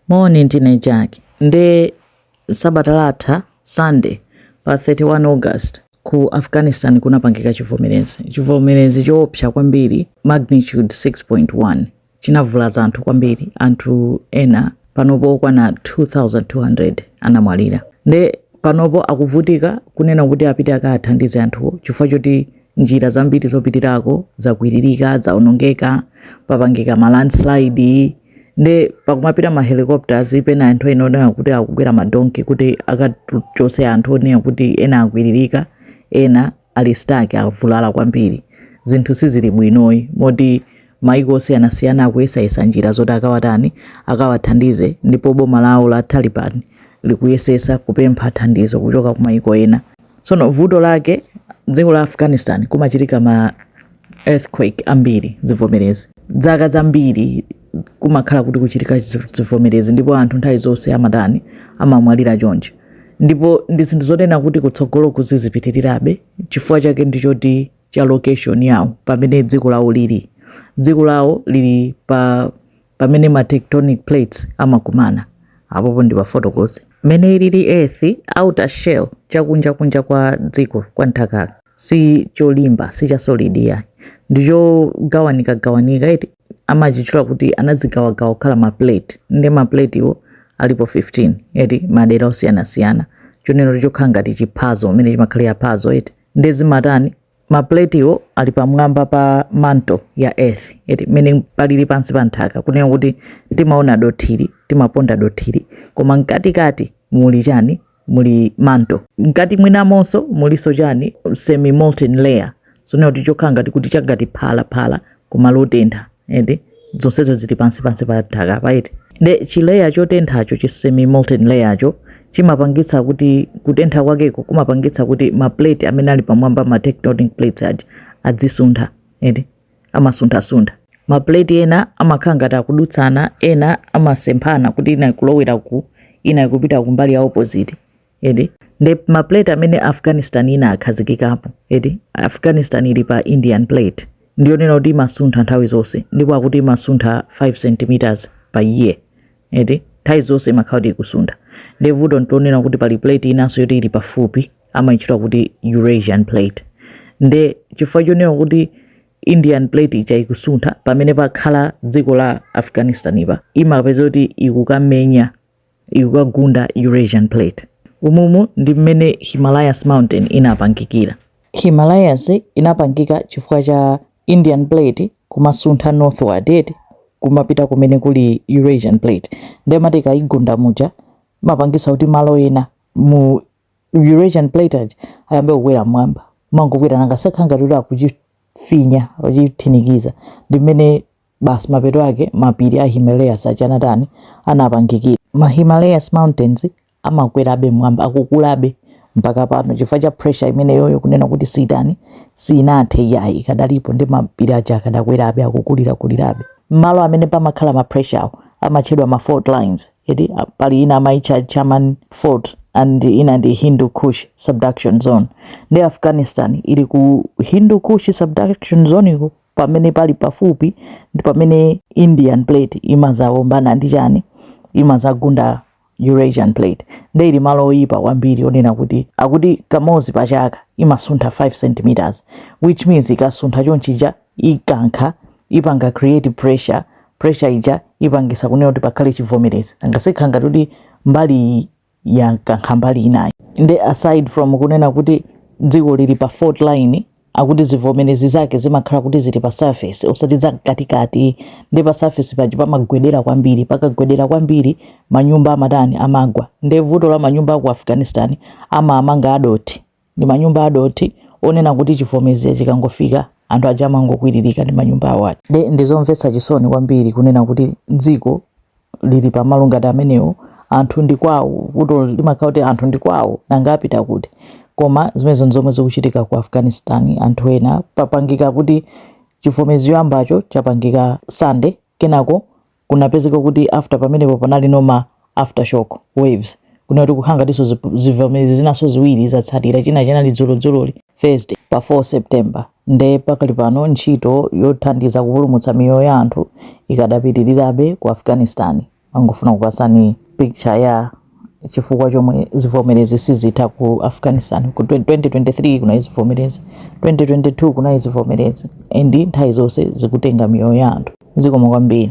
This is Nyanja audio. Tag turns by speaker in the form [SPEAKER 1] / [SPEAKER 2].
[SPEAKER 1] Moni, ndine Jack. Nde sabata latha Sunday pa 31 August ku Afghanistan kunapangika chivomerezi. Chivomerezi choopsa kwambiri magnitude 6.1 chinavulaza anthu kwambiri. Anthu ena panopo okwana 2200 anamwalira. Nde panopo akuvutika kunena kuti apite akathandize anthuwo chifukwa choti njira zambiri zopitirako zakwiririka, zaonongeka, papangika ma landslide. nde pakumapita ma helicopters kapena anthu ena onena kuti akukwera madonki kuti akachose anthu onena kuti ena akwiririka ena ali stuck avulala kwambiri zinthu sizili bwinoyi moti maiko osiyanasiyana akuyesayesa njira zoti akawatani akawathandize ndipo boma lawo la taliban likuyesesa kupempha thandizo kuchokera ku maiko ena Tsono vuto lake dziko la Afghanistan kumachitika ma earthquake ambiri zivomerezi dzaka zambiri kumakhala kuti kuchitika zivomerezi ndipo anthu nthawi zonse amatani amamwalira choncha ndipo ndi zinthu zonena kuti kutsogolo kuzizipitirirabe chifukwa chake ndi choti cha location yawo pamene dziko lawo lili dziko lawo lili pa pamene ma tectonic plates amakumana apopo ndikufotokoze mmene ilili earth's outer shell chakunja kunja kwa dziko kwa nthakako si cholimba si cha solid ayi ndichogawanika gawanika eti amachitchula kuti anadzigawagawa kukhala ma plate nde ma platewo alipo 15 eti madera osiyanasiyana chonena chokhala ngati chiphazo mmene chimakhalira phazo eti nde zimatani mapuletiwo ali pamwamba pa mantle ya earth eti mmene palili pansi pa nthaka kunena kuti timaona dothili timaponda dothili koma mkatikati muli chani muli mantle mkati mwinamonso mulinso chani semi molten layer zonena kuti chokhala ngati kuti changati phala phala kumalo otentha eti zonsezo zili pansi pansi pa nthaka apa eti nde chi layer chotenthacho chi semi molten layercho chimapangitsa kuti kutentha kwakeko kumapangitsa kuti ma plate amene ali pamwamba ma tectonic plates aja adzisuntha eti amasunthasuntha ma plate ena amakhala ngati akudutsana ena amasemphana kuti ina ikulowera ku ina ikupita kumbali ya opposite eti nde ma plate amene afghanistan inakhazikikapo eti afghanistan ili pa indian plate ndiyonena kuti imasuntha nthawi zonse ndipo akuti imasuntha 5 centimeters pa year eti nthawi zonse imakhala kuti ikusuntha nde vuto ndi yonena kuti pali plate inanso yoti ili pafupi amayitchula kuti eurasian plate nde chifukwa chonena kuti indian plate ija ikusuntha pamene pakhala dziko la afghanistan ija imapeza kuti ikukamenya ikukagunda Eurasian Plate. Umumu ndi mmene Himalayas Mountain inapangikira. Himalayas inapangika chifukwa cha Indian Plate kumasuntha northward eti kumapita kumene kuli Eurasian Plate. Nde imati ikayigunda muja imapangisa kuti malo ena mu Eurasian Plate aja ayambe kukwera mmwamba. Amangokwera nanga zakhala ngati kuti akuchifinya, akuchithinikiza. Ndi mmene Basi mapeto ake mapiri a Himalayas aja anatani? Anapangikira. Ma Himalayas Mountains amakwerabe mmwamba, akukulabe mpaka pano chifukwa cha pressure imeneyoyo, kunena kuti siitani, siinathe iyayi, ikadalipo nde mapiri aja akadakwerabe, akukulirakulirabe. Malo amene pamakhala ma pressure awo amatchedwa ma fault lines, eti a- pali ina amaitcha Chaman Fault and ina ndi Hindu Kush Subduction Zone. Nde Afghanistan ili ku Hindu Kush Subduction Zone iko pamene pali pafupi ndi pamene indian plate imazaombana ndi chani imazagunda eurasian plate nde ili malo oyipa kwambiri onena kuti akuti kamozi pa chaka imasuntha 5 centimeters which means ikasuntha chonchija ikankha ipanga create pressure pressure ija ipangisa kunena kuti pakhale chivomerezi nanga sikhala ngati kuti mbali iyi yakankha mbali inayi nde aside from kunena kuti dziko lili pa fault line akuti zivomerezi zake zimakhala kuti zili pa surface osati za mkatikati ndi pa surface paja pamagwedera kwambiri pakagwedera kwambiri manyumba amatani amagwa nde vuto la manyumba aku afghanistan amaamanga adothi ndi manyumba adothi onena kuti chivomezi chikangofika anthu aja amangokwiririka ndi manyumba awo aja nde ndizomvetsa chisoni kwambiri kunena kuti dziko lili pamalo ngati amenewo anthu ndi kwawo vuto limakhala kuti anthu ndi kwawo nanga apita kuti koma zimenezo nzomwe zikuchitika ku afghanistan anthu ena tapanga kuti chivomezi choyambacho chapangika sunday kenako kunapezeka kuti after pamenepo panalinso ma aftershock waves kunena kuti kukhala ngatinso zip- zivomezi zinanso ziwiri zatsatira china chinali dzulodzuloli thursday pa 4 september nde pakali pano ntchito yothandiza kupulumutsa miyoyo ya anthu ikadapitirirabe ku afghanistan ndangofuna kupasani picture ya chifukwa chomwe zivomerezi sizitha ku afghanistan ku 2023 kunali zivomerezi 2022 kunali zivomerezi and nthawi zonse zikutenga miyoyo ya anthu zikomo kwambiri